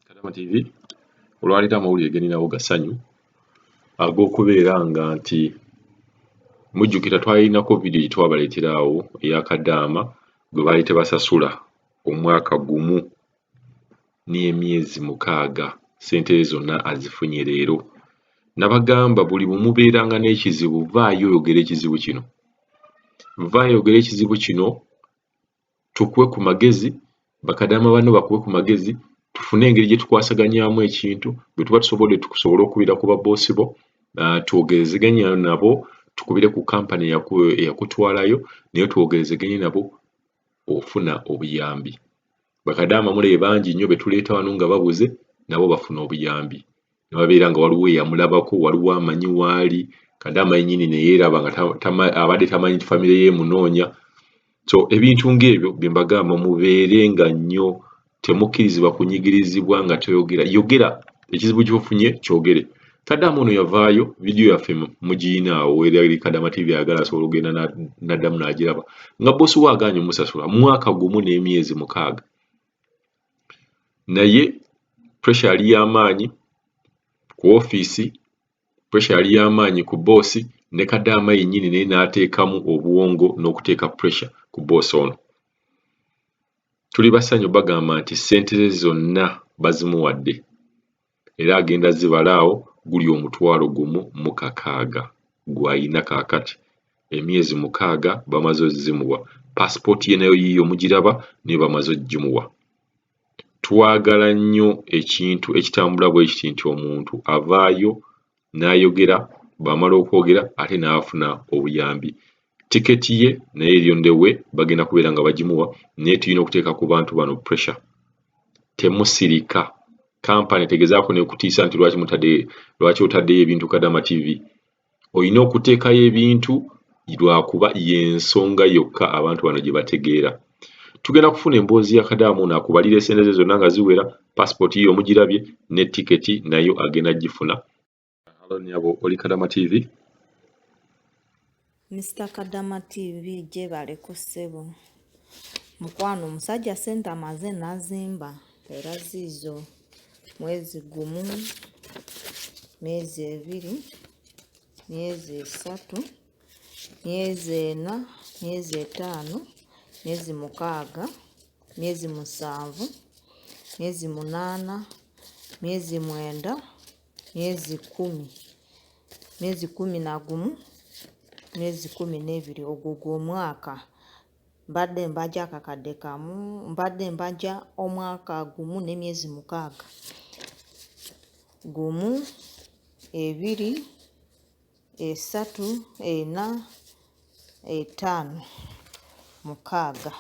Kadama TV olwaleero amawulire geninawo gasanyu ag'okubeera nga nti mujjukira twalinako vidiyo gye twabaleetera awo eya kadaama gwe baali tebasasula omwaka gumu n'emyezi mukaaga ssente ze zonna azifunye leero nabagamba buli bumubeeranga n'ekizibu vaayo oyogere ekizibu kino vaayo oyogere ekizibu kino tukuwe ku magezi, bakadaama banno bakuwe ku magezi, tufune engeri gye tukwasaganyaamu ekintu, bwe tuba tusobodde tukusobole okubira ku babboosi bo, ah, twogerezeganya nabo, tukubire ku kampani eyakutwalayo, naye twogerezeganye nabo ofuna obuyambi. Bakadaama mule bangi nnyo be tuleeta wano nga babuze, nabo bafuna obuyambi. nababeera nga waliwo eyamulabako waliwo amanyi waali kade amanyi nyini neyeraba nga abadde tamanyi nti famire ye emunoonya so ebintu ngaebyo byembagamba mubeere nga nnyo temukkirizibwa kunyigirizibwa nga toyogera yogera ekizibu kyofunye kyogere kadama ono yavaayo vidiyo yaffe mugiyina awo erali kadama tv ayagala asobola okugenda naddamu nagiraba nga bosi we aganye omusasula mwaka gumu n'emyezi mukaaga naye puresha yali ya maanyi ku ofiisi, puresha yali ya maanyi ku bboosi ne kadaama yennyini naye n'ateekamu obwongo n'okuteeka puresha ku bboosi ono. Tuli basanyu bagamba nti ssente ze zonna bazimuwadde. era agenda zibala awo guli omutwalo gumu mu kakaaga gw'alina kaakati, emyezi mukaaga bamaze ozzimuwa, paasipooti ye nayo yiiyo mugiraba naye bamaze ogimuwa. Twagala nnyo ekintu ekitambula bwe kiti nti omuntu avaayo n'ayogera bw'amala okwogera ate n'afuna obuyambi tiketi ye naye eri on the way bagenda kubeera nga bagimuwa naye tulina okuteeka ku bantu bano pressure temusirika kampani tegezaako nekutiisa nti lwaki mutadde lwaki otaddeyo ebintu kadama tv olina okuteekayo ebintu lwakuba yensonga yokka abantu bano gye bategeera tugenda kufuna emboozi ya kadaamu nakubalira esente ze zonna nga ziwera passport yiyo mugirabye ne ticket nayo agenda gifuna halo nyabo oli kadama tv Mr Kadama TV gyebale ku ssebo mukwano omusajja sente amaze nazimba era ziizo mwezi gumu myezi ebiri myezi esatu myezi ena myezi etaano myezi mukaaga myezi musanvu myezi munaana myezi mwenda myezi kumi myezi kumi na gumu myezi kumi n'ebiri ogwo gw'omwaka mbadde mbaja akakadde kamu mbadde mbaja omwaka gumu n'emyezi mukaaga gumu ebiri esatu ena etaano mukaaga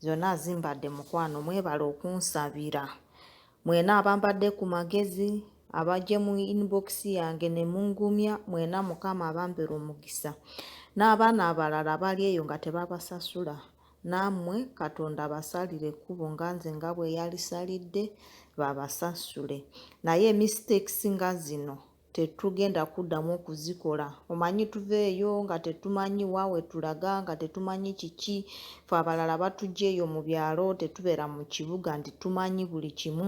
zonna azimbadde mukwano mwebale okunsabira mwena abambadde ku magezi abajje mu inbox yange ne mungumya mwena mukama abambere omukisa n'abaana abalala bali eyo nga tebabasasula naamwe katonda abasalire ekkubo nga nze nga bwe yalisalidde babasasule naye mistakes nga zino tetugenda kuddamu okuzikola omanyi tuveeyo nga tetumanyi wa we tulaga nga tetumanyi kiki fe abalala batujja eyo mu byalo tetubeera mu kibuga nti tumanyi buli kimu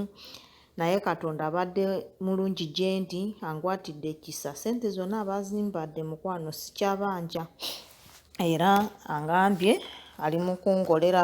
naye katonda abadde mulungi gye ndi angwatidde ekisa sente zonna abazimbadde mukwano sikyabanja era angambye ali mu kungolera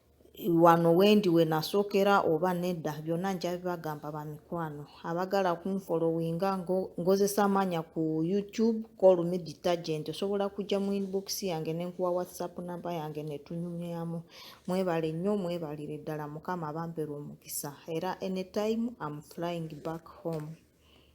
wano wendi wenasookera oba nedda byonna nja bibagamba bamikwano abagala kunfolowinga ngozesa amaanya ku youtube call me detergent osobola kujja mu inbox yange nenkuwa whatsapp namba yange netunyumyamu mwebale nnyo mwebalire ddala mukama abambere omukisa era anytime am flying back home